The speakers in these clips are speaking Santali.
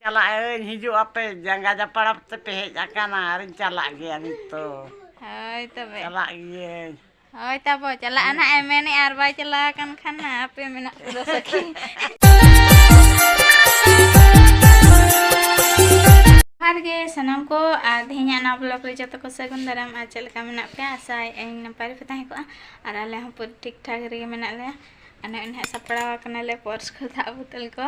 ᱪᱟᱞᱟᱜ ᱟᱹᱧ ᱦᱤᱡᱩᱜ ᱟᱯᱮ ᱡᱟᱸᱜᱟ ᱡᱟᱯᱟᱲᱟᱯ ᱛᱮᱯᱮ ᱦᱮᱡ ᱟᱠᱟᱱᱟ ᱟᱨᱤᱧ ᱪᱟᱞᱟᱜ ᱜᱮᱭᱟ ᱱᱤᱛᱚᱜ ᱦᱳᱭ ᱛᱚᱵᱮ ᱪᱟᱞᱟᱜ ᱜᱤᱭᱟᱹᱧ ᱦᱳᱭ ᱛᱟᱵᱚ ᱪᱟᱞᱟᱜᱼᱟ ᱱᱟᱜ ᱮ ᱢᱮᱱᱮᱫ ᱟᱨ ᱵᱟᱭ ᱪᱟᱞᱟᱣ ᱟᱠᱟᱱ ᱠᱷᱟᱱ ᱱᱟᱜ ᱟᱯᱮ ᱢᱮᱱᱟᱜ ᱯᱮᱫᱚ ᱥᱟᱹᱠᱷᱤ ᱡᱚᱦᱟᱨ ᱜᱮ ᱥᱟᱱᱟᱢ ᱠᱚ ᱟᱨ ᱛᱮᱦᱮᱧᱟᱜ ᱱᱟᱣᱟ ᱵᱞᱚᱜ ᱨᱮ ᱡᱚᱛᱚ ᱠᱚ ᱥᱟᱹᱜᱩᱱ ᱫᱟᱨᱟᱢ ᱟᱨ ᱪᱮᱫ ᱞᱮᱠᱟ ᱢᱮᱱᱟᱜ ᱯᱮᱭᱟ ᱟᱥᱟᱭ ᱟᱹᱧ ᱱᱟᱯᱟᱭ ᱨᱮᱯᱮ ᱛᱟᱦᱮᱸ ᱠᱚᱜᱼᱟ ᱟᱨ ᱟᱞᱮ ᱦᱚᱸ ᱯᱩᱨᱟᱹ ᱴᱷᱤᱠ ᱴᱷᱟᱠ ᱨᱮᱜᱮ ᱢᱮᱱᱟᱜ ᱞᱮᱭᱟ ᱟᱨ ᱱᱚᱜᱼᱚᱭ ᱱᱟᱦᱟᱜ ᱥᱟᱯᱲᱟᱣ ᱟᱠᱟᱱᱟᱞᱮ ᱯᱚᱨᱥ ᱠᱚ ᱫᱟᱜ ᱵᱳᱛᱚᱞ ᱠᱚ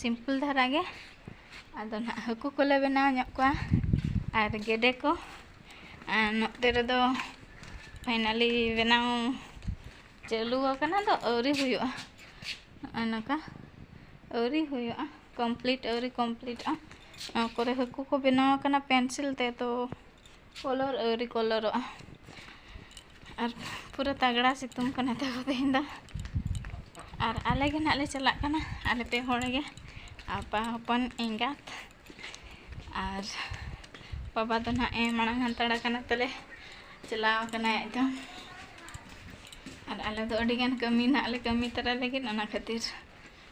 ᱥᱤᱢᱯᱤᱞ ᱫᱷᱟᱨᱟ ᱜᱮ ᱟᱫᱚ ᱱᱟᱦᱟᱜ ᱦᱟᱹᱠᱩ ᱠᱚᱞᱮ ᱵᱮᱱᱟᱣ ᱧᱚᱜ ᱠᱚᱣᱟ ᱟᱨ ᱜᱮᱰᱮ ᱠᱚ ᱟᱨ ᱱᱚᱛᱮ ᱨᱮᱫᱚ ᱯᱷᱟᱭᱱᱟᱞᱤ ᱵᱮᱱᱟᱣ ᱪᱟᱹᱞᱩ ᱟᱠᱟᱱᱟ ᱫᱚ ᱟᱹᱣᱨᱤ ᱦᱩᱭᱩᱜᱼᱟ ᱱᱚᱜᱼᱚᱭ ᱱᱚᱝᱠᱟ ᱟᱹᱣᱨᱤ ᱦᱩᱭᱩᱜᱼᱟ ᱠᱚᱢᱯᱞᱤᱴ ᱟᱹᱣᱨᱤ ᱠᱚᱢᱯᱞᱤᱴᱚᱜᱼᱟ ᱱᱚᱣᱟ ᱠᱚᱨᱮ ᱦᱟᱹᱠᱩ ᱠᱚ ᱵᱮᱱᱟᱣ ᱟᱠᱟᱱᱟ ᱯᱮᱱᱥᱤᱞ ᱛᱮ ᱛᱚ ᱠᱚᱞᱚᱨ ᱟᱹᱣᱨᱤ ᱠᱚᱞᱚᱨᱚᱜᱼᱟ ᱟᱨ ᱯᱩᱨᱟᱹ ᱛᱟᱜᱽᱲᱟ ᱥᱤᱛᱩᱝ ᱠᱟᱱᱟ ᱛᱟᱠᱚ ᱛᱮᱦᱮᱧ ᱫᱚ ᱟᱨ ᱟᱞᱮ ᱜᱮ ᱱᱟᱦᱟᱜ ᱞᱮ ᱪᱟᱞᱟᱜ ᱠᱟᱱᱟ ᱟᱞᱮ ᱯᱮ ᱦᱚᱲ ᱜᱮ ᱟᱯᱟ ᱦᱚᱯᱚᱱ ᱮᱸᱜᱟᱛ ᱟᱨ ᱵᱟᱵᱟ ᱫᱚ ᱱᱟᱦᱟᱜ ᱮ ᱢᱟᱲᱟᱝ ᱦᱟᱱᱛᱟᱲ ᱟᱠᱟᱱᱟ ᱛᱟᱞᱮ ᱪᱟᱞᱟᱣ ᱟᱠᱟᱱᱟᱭ ᱟᱡ ᱫᱚ ᱟᱨ ᱟᱞᱮ ᱫᱚ ᱟᱹᱰᱤᱜᱟᱱ ᱠᱟᱹᱢᱤ ᱱᱟᱦᱟᱜ ᱞᱮ ᱠᱟᱹᱢᱤ ᱛᱟᱨᱟᱭ ᱞᱟᱹᱜᱤᱫ ᱚᱱᱟ ᱠᱷᱟᱹᱛᱤᱨ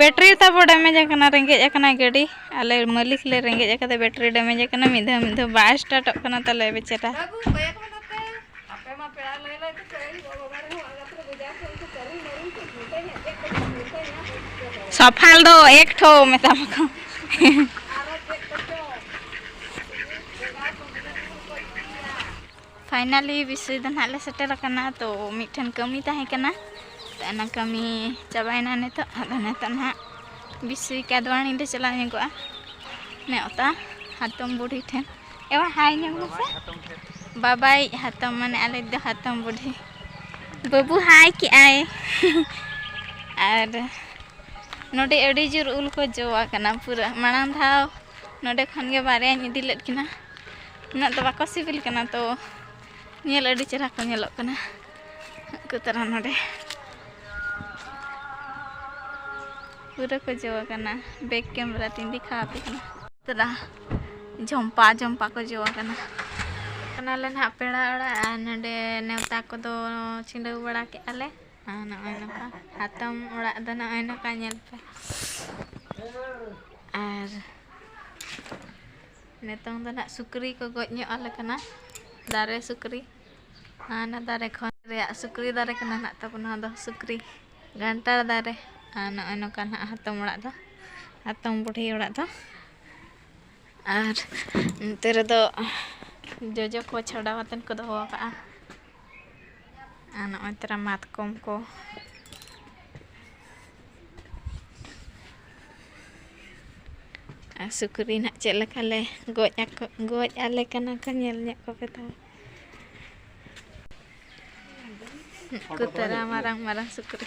ᱵᱮᱴᱨᱤ ᱛᱟᱵᱚ ᱰᱮᱢᱮᱡᱽ ᱟᱠᱟᱱᱟ ᱨᱮᱸᱜᱮᱡ ᱟᱠᱟᱱᱟ ᱜᱟᱹᱰᱤ ᱟᱞᱮ ᱢᱟᱹᱞᱤᱠ ᱞᱮ ᱨᱮᱸᱜᱮᱡ ᱟᱠᱟᱫᱟ ᱵᱮᱴᱨᱤ ᱰᱮᱢᱮᱡᱽ ᱟᱠᱟᱱᱟ ᱢᱤᱫ ᱫᱷᱟᱣ ᱢᱤᱫ ᱫᱷᱟᱣ ᱵᱟᱭ ᱥᱴᱟᱨᱴᱚᱜ ᱠᱟᱱᱟ ᱛᱟᱞᱮ ᱵᱮᱪᱟᱨᱟ ᱥᱚᱯᱷᱟᱞ ᱫᱚ ᱮᱠ ᱴᱷᱚ ᱢᱮᱛᱟᱢ ᱠᱚ ᱯᱷᱟᱭᱱᱟᱞᱤ ᱵᱤᱥᱚᱭ ᱫᱚ ᱱᱟᱦᱟᱜ ᱞᱮ ᱥᱮᱴᱮᱨ ᱟᱠᱟᱱᱟ ᱛᱚ ᱢᱤᱫᱴᱷᱮᱱ ᱠᱟᱹᱢᱤ ᱛᱟᱦᱮᱸ ᱠᱟᱱᱟ ᱛᱚ ᱚᱱᱟ ᱠᱟᱹᱢᱤ ᱪᱟᱵᱟᱭᱮᱱᱟ ᱱᱤᱛᱚᱜ ᱟᱫᱚ ᱱᱤᱛᱚᱜ ᱱᱟᱦᱟᱜ ᱵᱤᱥᱚᱭ ᱠᱟᱫᱣᱟᱱᱤ ᱞᱮ ᱪᱟᱞᱟᱣ ᱧᱚᱜᱚᱜᱼᱟ ᱱᱮᱣᱛᱟ ᱦᱟᱛᱚᱢ ᱵᱩᱰᱷᱤ ᱴᱷᱮᱱ ᱮᱣᱟ ᱦᱟᱭ ᱧᱚᱜ ᱢᱮᱥᱮ ᱵᱟᱵᱟᱭ ᱦᱟᱛᱚᱢ ᱢᱟᱱᱮ ᱟᱞᱮ ᱫᱚ ᱦᱟᱛᱚᱢ ᱵᱩᱰᱷᱤ ᱵᱟᱹᱵᱩ ᱦᱟᱭ ᱠᱮᱜᱼᱟᱭ ᱟᱨ ᱱᱚᱰᱮ ᱟᱹᱰᱤ ᱡᱳᱨ ᱩᱞ ᱠᱚ ᱡᱚ ᱟᱠᱟᱱᱟ ᱯᱩᱨᱟᱹ ᱢᱟᱲᱟᱝ ᱫᱷᱟᱣ ᱱᱚᱰᱮ ᱠᱷᱚᱱ ᱜᱮ ᱵᱟᱨᱭᱟᱧ ᱤᱫᱤ ᱞᱮᱫ ᱠᱤᱱᱟ ᱩᱱᱟᱹᱜ ᱫᱚ ᱵᱟᱠᱚ ᱥᱤᱵᱤᱞ ᱠᱟᱱᱟ ᱛᱚ ᱧᱮᱞ ᱟᱹᱰᱤ ᱪᱮᱦᱨᱟ ᱠᱚ ᱧᱮᱞᱚᱜ ᱠᱟᱱᱟ ᱩᱱᱠᱩ ᱛᱟᱨᱟ ᱱᱚᱰᱮ ᱯᱩᱨᱟᱹ ᱠᱚ ᱡᱚ ᱟᱠᱟᱱᱟ ᱵᱮᱠ ᱠᱮᱢᱮᱨᱟ ᱛᱤᱧ ᱫᱮᱠᱷᱟ ᱟᱯᱮ ᱠᱟᱱᱟ ᱛᱟᱨᱟ ᱡᱷᱚᱢᱯᱟ ᱡᱷᱚᱢᱯᱟ ᱠᱚ ᱡᱚ ᱟᱠᱟᱱᱟ ᱠᱟᱱᱟᱞᱮ ᱱᱟᱦᱟᱜ ᱯᱮᱲᱟ ᱚᱲᱟᱜ ᱟᱨ ᱱᱚᱰᱮ ᱱᱮᱣᱛᱟ ᱠᱚᱫᱚ ᱪᱷᱤᱸᱰᱟᱹᱣ ᱵᱟᱲᱟ ᱠᱮᱫᱼᱟ ᱞᱮ ᱟᱨ ᱱᱚᱜᱼᱚᱭ ᱱᱚᱝᱠᱟ ᱦᱟᱛᱚᱢ ᱚᱲᱟᱜ ᱫᱚ ᱱᱚᱜᱼᱚᱭ ᱱᱚᱝᱠᱟ ᱧᱮᱞ ᱯᱮ ᱟᱨ ᱱᱤᱛᱚᱝ ᱫᱚ ᱱᱟᱦᱟᱜ ᱥᱩᱠᱨᱤ ᱠᱚ ᱜᱚᱡ ᱧᱚᱜ ᱟᱞᱮ ᱠᱟᱱᱟ ᱫᱟᱨᱮ ᱥᱩᱠᱨᱤ ᱦᱟᱱᱟ ᱫᱟᱨᱮ ᱠᱷᱚᱱ ᱨᱮᱭᱟᱜ ᱥᱩᱠᱨᱤ ᱫᱟᱨᱮ ᱠᱟᱱᱟ ᱱᱟᱦᱟᱜ ᱛᱟᱵᱚᱱ ᱱᱚᱣᱟ ᱫᱚ ᱥᱩᱠᱨᱤ ᱜᱷᱟᱱᱴᱟᱲ ᱫᱟᱨᱮ ᱟᱨ ᱱᱚᱜᱼᱚᱭ ᱱᱚᱝᱠᱟ ᱱᱟᱦᱟᱜ ᱦᱟᱛᱚᱢ ᱚᱲᱟᱜ ᱫᱚ ᱦᱟᱛᱚᱢ ᱵᱩᱰᱷᱤ ᱚᱲᱟᱜ ᱫᱚ ᱟᱨ ᱱᱚᱛᱮ ᱨᱮᱫᱚ ᱡᱚᱡᱚ ᱠᱚ ᱪᱷᱟᱰᱟᱣ ᱠᱟᱛᱮᱫ ᱠᱚ ᱫᱚᱦᱚ ᱟᱠᱟᱫᱼᱟ ᱟᱨ ᱱᱚᱜᱼᱚᱭ ᱛᱚᱨᱟ ᱢᱟᱛᱠᱚᱢ ᱠᱚ ᱟᱨ ᱥᱩᱠᱨᱤ ᱱᱟᱜ ᱪᱮᱫ ᱞᱮᱠᱟ ᱞᱮ ᱜᱚᱡ ᱟᱠᱚ ᱜᱚᱡ ᱟᱞᱮ ᱠᱟᱱᱟ ᱠᱚ ᱧᱮᱞ ᱧᱚᱜ ᱠᱚᱯᱮ ᱛᱟᱦᱚᱞᱮ ᱩᱱᱠᱩ ᱛᱟᱨᱟ ᱢᱟᱨᱟᱝ ᱢᱟᱨᱟᱝ ᱥᱩᱠᱨᱤ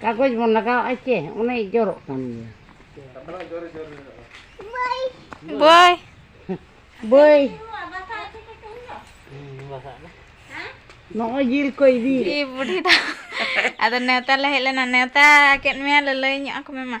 ᱠᱟᱜᱚᱡᱽ ᱵᱚᱱ ᱞᱟᱜᱟᱣᱟᱜᱼᱟ ᱪᱮ ᱚᱱᱮ ᱡᱚᱨᱚᱜ ᱠᱟᱱ ᱜᱮᱭᱟ ᱵᱟᱭ ᱵᱟᱹᱭ ᱱᱚᱜᱼᱚᱭ ᱡᱤᱞ ᱠᱚ ᱤᱫᱤ ᱤ ᱵᱩᱰᱷᱤ ᱫᱚ ᱟᱫᱚ ᱱᱮᱣᱛᱟ ᱞᱮ ᱦᱮᱡ ᱞᱮᱱᱟ ᱱᱮᱣᱛᱟ ᱠᱮᱫ ᱢᱮᱭᱟ ᱞᱟᱹᱞᱟᱹᱭ ᱧᱚᱜ ᱟᱠᱚ ᱢᱮ ᱢᱟ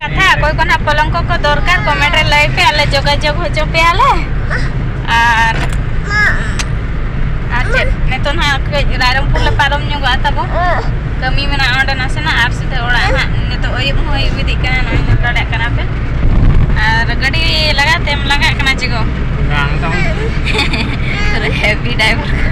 ᱠᱟᱛᱷᱟ ᱚᱠᱚᱭ ᱠᱚ ᱱᱟᱜ ᱯᱚᱞᱚᱝᱠᱚ ᱠᱚ ᱫᱚᱨᱠᱟᱨ ᱠᱚᱢᱮᱱᱴ ᱨᱮ ᱞᱟᱹᱭ ᱯᱮ ᱟᱞᱮ ᱡᱳᱜᱟᱡᱳᱜᱽ ᱦᱚᱪᱚ ᱯᱮᱭᱟᱞᱮ ᱟᱨ ᱟᱨ ᱪᱮᱫ ᱱᱤᱛᱚᱜ ᱱᱟᱜ ᱠᱟᱹᱡ ᱨᱟᱭᱨᱚᱝᱯᱩᱨ ᱞᱮ ᱯᱟᱨᱚᱢ ᱧᱚᱜᱚᱜᱼᱟ ᱛᱟᱵᱚ ᱠᱟᱹᱢᱤ ᱢᱮᱱᱟᱜᱼᱟ ᱚᱸᱰᱮ ᱱᱟᱥᱮᱱᱟᱜ ᱟᱨ ᱥᱤᱫᱷᱟᱹ ᱚᱲᱟᱜ ᱦᱟᱸᱜ ᱱᱤᱛᱚᱜ ᱟᱹᱭᱩᱵ ᱦᱚᱸ ᱟᱹᱭᱩᱵ ᱤᱫᱤᱜ ᱠᱟᱱᱟ ᱱᱚᱜᱼᱚᱭ ᱧᱮᱞ ᱫᱟᱲᱮᱭᱟᱜ ᱠᱟᱱᱟ ᱯᱮ ᱟᱨ ᱜᱟᱹᱰᱤ ᱞᱟᱜᱟᱛᱮᱢ ᱞᱟᱜᱟᱜ ᱠᱟᱱᱟ ᱪᱮᱜᱚ ᱵᱟᱝ ᱛᱟᱢ ᱦᱮᱵᱤ ᱰᱟᱭᱵᱷᱟᱨ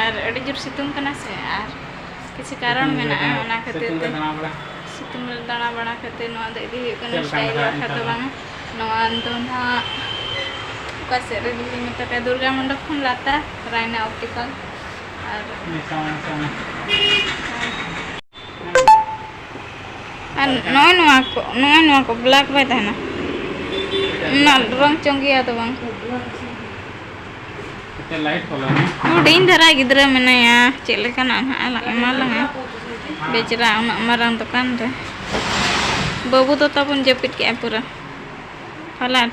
ᱟᱨ ᱟᱹᱰᱤ ᱡᱳᱨ ᱥᱤᱛᱩᱝ ᱠᱟᱱᱟ ᱥᱮ ᱟᱨ ᱠᱤᱪᱷᱩ ᱠᱟᱨᱚᱱ ᱢᱮᱱᱟᱜᱼᱟ ᱚᱱᱟ ᱠᱷᱟᱹᱛᱤᱨ ᱛᱮ ᱥᱤᱛᱩᱝ ᱨᱮ ᱫᱟᱬᱟ ᱵᱟᱲᱟ ᱠᱟᱛᱮ ᱱᱚᱣᱟ ᱫᱚ ᱤᱫᱤ ᱦᱩᱭᱩᱜ ᱠᱟᱱᱟ ᱥᱴᱟᱭᱤᱞ ᱵᱟᱠᱷᱨᱟ ᱫᱚ ᱵᱟᱝᱟ ᱱᱚᱣᱟ ᱫᱚ ᱱᱟᱦᱟᱜ ᱚᱠᱟ ᱥᱮᱫ ᱨᱮ ᱡᱩᱫᱤ ᱢᱮᱛᱟ ᱯᱮᱭᱟ ᱫᱩᱨᱜᱟ ᱢᱚᱱᱰᱚᱯ ᱠᱷᱚᱱ ᱞᱟᱛᱟᱨ ᱨᱟᱭᱱᱟ ᱚᱯᱴᱤᱠᱟᱞ ᱟᱨ ᱟᱨ ᱱᱚᱜᱼᱚᱭ ᱱᱚᱣᱟ ᱠᱚ ᱱᱚᱜᱼᱚᱭ ᱱᱚᱣᱟ ᱠᱚ ᱵᱞᱟᱠ ᱵᱟᱭ ᱛᱟᱦᱮᱱᱟ ᱚᱱᱟ ᱨᱚᱝ ᱪᱚᱝ ᱜᱮᱭᱟ ᱫᱚ ᱵᱟᱝ ᱦᱩᱰᱤᱧ ᱫᱷᱟᱨᱟ ᱜᱤᱫᱽᱨᱟᱹ ᱢᱮᱱᱟᱭᱟ ᱪᱮᱫ ᱞᱮᱠᱟᱱᱟᱜ ᱱᱟᱦᱟᱜ ᱮᱢᱟ ᱞᱟᱝᱟ ᱵᱮᱪᱨᱟ ᱩᱱᱟᱹᱜ ᱢᱟᱨᱟᱝ ᱫᱚᱠᱟᱱ ᱨᱮ ᱵᱟᱹᱵᱩ ᱫᱚ ᱛᱟᱵᱚᱱ ᱡᱟᱹᱯᱤᱫ ᱠᱮᱜᱼᱟ ᱯᱩᱨᱟᱹ ᱯᱟᱞᱟᱴ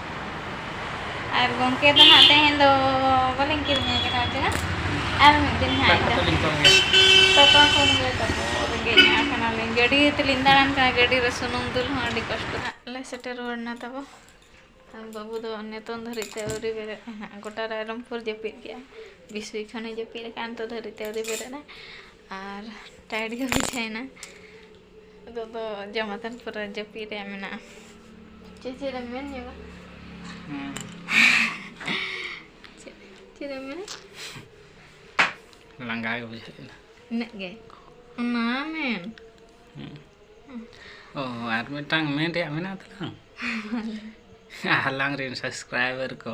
ᱟᱨ ᱜᱚᱝᱠᱮ ᱫᱚ ᱦᱟᱸᱜ ᱛᱮᱦᱮᱧ ᱫᱚ ᱵᱟᱹᱞᱤᱧ ᱠᱤᱨᱤᱧ ᱟᱭ ᱠᱟᱱᱟ ᱪᱮᱫ ᱟᱨ ᱢᱤᱫ ᱫᱤᱱ ᱦᱟᱸᱜ ᱫᱟᱠᱟ ᱛᱟᱹᱞᱤᱧ ᱠᱚᱢ ᱜᱮ ᱫᱟᱠᱟ ᱠᱚᱢ ᱜᱮ ᱛᱟᱵᱚ ᱨᱮᱸᱜᱮᱡ ᱧᱚᱜ ᱠᱟᱱᱟᱞᱤᱧ ᱜᱟᱹᱰᱤ ᱛᱮᱞᱤᱧ ᱫᱟᱬᱟᱱ ᱠᱟᱱᱟ ᱜᱟᱹᱰᱤ ᱨᱮ ᱥᱩᱱᱩᱢ ᱫᱩᱞ ᱦᱚᱸ ᱟᱹᱰᱤ ᱠᱚᱥᱴᱚ ᱦᱟᱸᱜ ᱞᱮ ᱥᱮᱴᱮᱨ ᱨᱩᱣᱟᱹᱲ ᱮᱱᱟ ᱛᱟᱵᱚ ᱟᱨ ᱵᱟᱹᱵᱩ ᱫᱚ ᱱᱤᱛᱚᱝ ᱫᱷᱟᱹᱨᱤᱡ ᱛᱮ ᱟᱹᱣᱨᱤ ᱵᱮᱨᱮᱫ ᱦᱟᱸᱜ ᱜᱚᱴᱟ ᱨᱟᱭᱨᱚᱝᱯᱩᱨ ᱡᱟᱹᱯᱤᱫ ᱠᱮᱜᱼᱟ ᱵᱤᱥᱩᱭ ᱠᱷᱚᱱᱮ ᱡᱟᱹᱯᱤᱫ ᱟᱠᱟᱫᱼᱟ ᱱᱤᱛᱚᱜ ᱫᱷᱟᱹᱨᱤᱡ ᱛᱮ ᱟᱹᱣᱨᱤ ᱵᱮᱨᱮᱫ ᱟᱭ ᱟᱨ ᱴᱟᱭᱤᱰ ᱜᱮ ᱵᱩᱡᱷᱟᱹᱣᱮᱱᱟ ᱱᱤᱛᱚᱜ ᱫᱚ ᱡᱚᱢ ᱟᱛᱮᱱ ᱯᱩᱨᱟᱹ ᱡᱟᱹᱯᱤᱫ ᱨᱮᱭᱟᱜ ᱢᱮᱱᱟᱜᱼᱟ ᱪᱮᱫ ᱪᱮᱫ ᱮᱢ ᱢᱮᱱ ᱧᱚᱜᱟ ᱪᱮᱫ ᱪᱮᱫ ᱮᱢ ᱢᱮᱱᱟ ᱞᱟᱸᱜᱟ ᱜᱮ ᱵᱩᱡᱷᱟᱹᱜ ᱠᱟᱱᱟ ᱤᱱᱟᱹᱜ ᱜᱮ ᱚᱱᱟ ᱢᱮᱱ ᱚ ᱟᱨ ᱢᱤᱫᱴᱟᱝ ᱢᱮᱱ ᱨᱮᱭᱟᱜ ᱢᱮᱱᱟᱜ ᱛᱟᱞᱟᱝ ᱟᱞᱟᱝ ᱨᱮᱱ ᱥᱟᱵᱥᱠᱨᱟᱭᱵᱟᱨ ᱠᱚ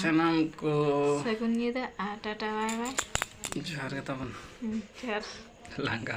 ᱥᱟᱱᱟᱢ ᱠᱚ ᱥᱟᱹᱜᱩᱱ ᱧᱤᱫᱟᱹ ᱟᱨ ᱴᱟᱴᱟ ᱵᱟᱭ ᱵᱟᱭ ᱡᱚᱦᱟᱨ ᱜᱮ ᱛᱟᱵᱚᱱ ᱡᱚᱦᱟᱨ ᱞᱟᱸᱜᱟ